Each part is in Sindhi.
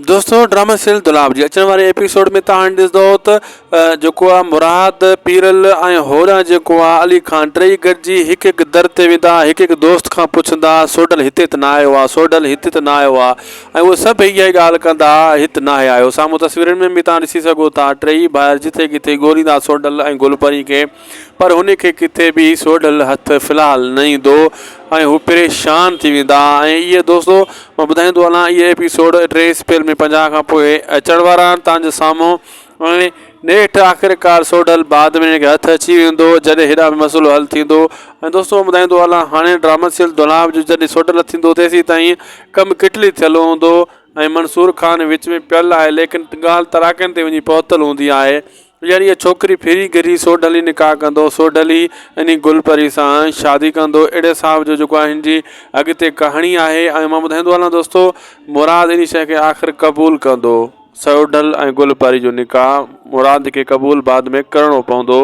دوستو ڊرامه سيل دولاب جي اچڻ واري ايپيسوڊ ۾ تان هاڻي ڏسدو ته جيڪو آ مراد پيرل ۽ هورا جيڪو آ علي خان ٽئي گڏجي هڪ هڪ در تي ويندا هڪ هڪ دوست کان پڇندا سوڍل هتي ته نه آيو آ سوڍل هتي ته نه آيو آ ۽ اهي سڀ اهي ئي ڳالهه ڪندا هت ناهي آيو سامهون تصويرن ۾ به تان ڏسي سگهو ٿا ٽئي ڀائر جتي ڪٿي ڳوليندا سوڍل ۽ گل پرين کي پر هن کي ڪٿي به سوڍل هٿ في الحال نه ايندو ۽ هو پريشان ٿي ويندا ۽ اهي دوستو مان ٻڌائيندو هلان اهي ايپيسوڊ ٽي اسپيل ۾ پنجاهه کان پوء اچڻ وارا آهن تان جو سامهون ۽ نيٺ آخرڪار سوڍل بعد ۾ هن کي هٿ اچي ويندو جڏهن هيڏانهن به مسئلو حل ٿيندو ۽ دوستو مان ٻڌائيندو هلان هاڻي ڊرامن سيل دولاب جو جڏهن سوڍل نه ٿيندو تيسيتائين ڪم ڪٽلي ٿيل هوندو ۽ منصور خان وچ ۾ پيل آهي ليڪن ڳالهه تراڪن تي وڃي پهتل هوندي آهي ڄڻ اها ڇوڪري ڦري گهري سوڍلي نڪاح ڪندو، سوڍلي انهي گل پري سان شادي ڪندو، اهڙي حساب جو جيڪو هن جي اڳتي ڪهاڻي آهي ۽ مان ٻڌائيندو هلان دوستو مراد انهي شيء کي آخر قبول ڪندو، سوڍل ۽ گل پري جو نڪاح مراد کي قبول بعد ۾ ڪرڻو پوندو،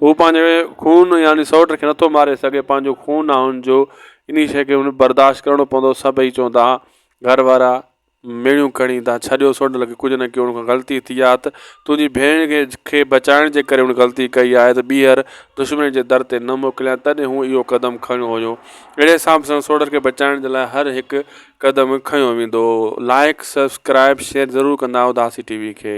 هو پنهنجي خون يعني سوٽ کي نٿو ماري سگهي، پنهنجو خون آهي هن جو، انهي شيء کي هن برداشت ڪرڻو پوندو، سڀئي چوندا گهر وارا. ميڻيون کڻي تان ڇڏيو سوڍ لڳي ڪجهه نه ڪيو ان کان غلطي ٿي آ ته تنهنجي ڀيڻ کي کي بچائڻ جي ڪري ان غلطي ڪئي آهي ته ٻيهر دشمني جي در تي نه موڪليان تڏهن هون اهو قدم کڻيو هيو اهڙي حساب سان سوڍ کي بچائڻ جي لاء هر هڪ قدم کنيو ويندو لائيڪ سبسڪرائيب شيئر ضرور ڪندا اداسي ٽي وي کي.